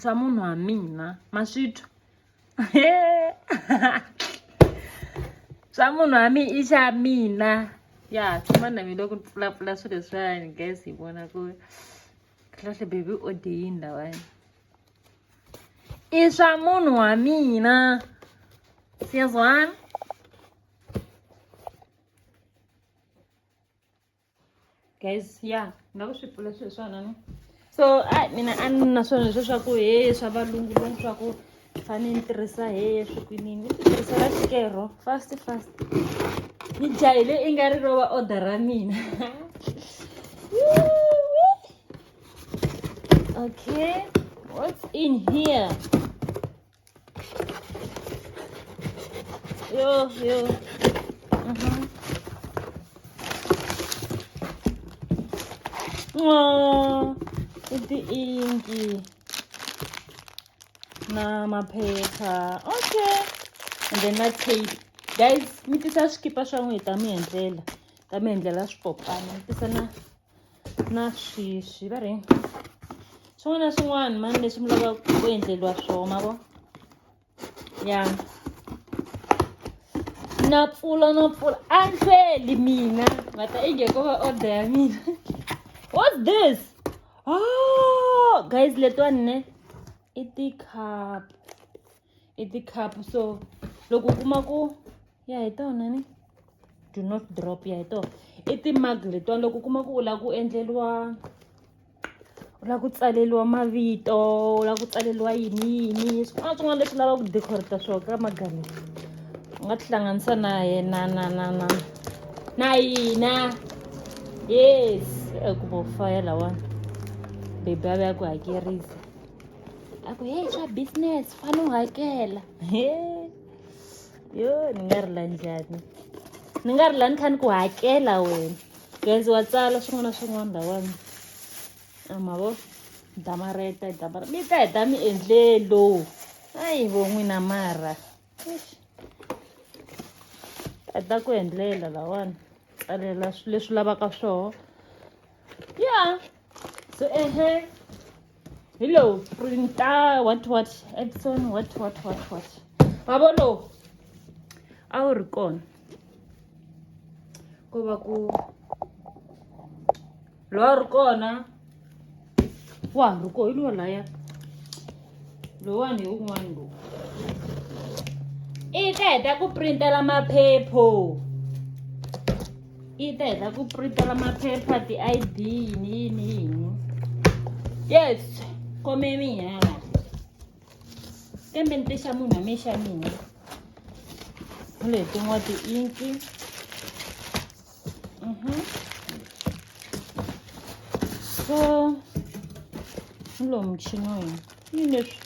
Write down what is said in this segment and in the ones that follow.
swa munhu wa mina ma swi twa swa munhu wa mina i xa mina ya tshama na mina loko ni pfulapfula swilo leswiwani guys hi vona ku kahle baby o dye yini lawani i swa munhu wa mina siyazwana guys ya nga ku swi pfula swilo swona ni so a mina a ni na swona leswo swa ku he swa valungu loni swa ku fane ni tirhisa he swikwinini ni titirhisela xikero fast fast ni jahile i nga ri rova order ra mina okay what's in here Yo, yo. Uhum. Oh, iti inki na maphepha. Okay. And then na tape. Guys, mi tisa swikipa swa n'wina hi ta mi endlela. Ta mi endlela swipopana. Mi tisa na na sweswi va ri swin'wana na swin'wana mani leswi mi lavaka ku endleriwa swona ma vo ya na pfula na pfula a ni hlweli mina nga ta inge ko va order ya mina what's this oh guys letiwani ne i ti-cup i ti-cup so loko u kuma ku ya hi tona ni do not drop ya hi tona i timag letiwani loko u kuma ku u lava ku endleriwa u lava ku tsaleriwa mavito u lava ku tsaleriwa yini yini swin'wana swin'wana leswi lavaka ku decorata swona ka magari u nga tihlanganisa na yena na na na na yina yes ku bo faya lawani bebi a ve ya ku hakerisa a ku heyi swa business fane u hakela he yo ni nga rila njhani ni nga rila ni kha ni ku hakela wena genzi wa tsala swin'wana na swin'wana lawani a ma vo damareta damareta mi ta heta mi endle lowu ayi vo n'wina mara a ta ku endlela lawani tsalela leswi lavaka swoho ya so ehe hi lowu printa what what epson what what what what vavo lowu a wu ri kona ko va ku lowa ri kona wa ha ri ko hi lowa laya lowani hi wun'wani lowu i ta heta ku printela maphepho yi ta heta ku printela maphepha ti-id yini yini yini yes kome minyala kambe ni tixa munhu a mixa mina letin'wa ti-inki mhm. so ni lowu muchini wa hina yini leswi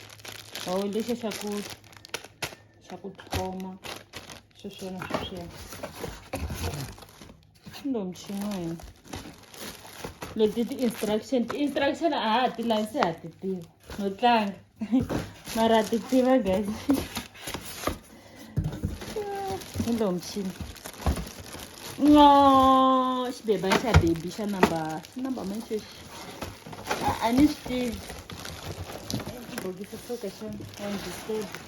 hawu lexi xa ku xa ku tlhoma sweswiyana sweswiyana kumbe muchini wa hina leti ti-instruction ti-instruction a ha ti lavi se ha ti tiva no tlanga mara ti tiva guys hi lowu muchini no xibeba xa baby xa number xa number manchexi a ni swi tivi bokisi soka xa one disable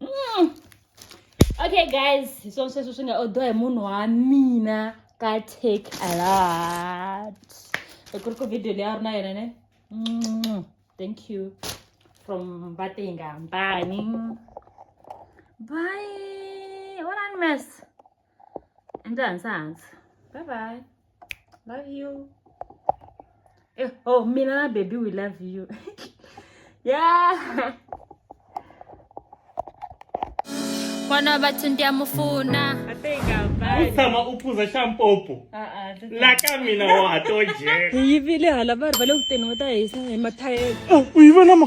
mm. okay guys hi swona sweswo swi nga odwa hi munhu wa mina ka take a lot loko ri ku video leyi a ri na yona ne mm. thank you from vatingambani bye what a mess Endlani sa hansi. Bye bye. Love you. Eh, oh, mina na baby we love you. yeah. Mwana bathu ndiyamufuna. I think I'll buy. it. tshama u phuza xa mpopo Uh-uh. look at- la ka mina wa to jeka hi yivile hala va ri va le ku teni va ta hisa hi mathayele u yi vona ma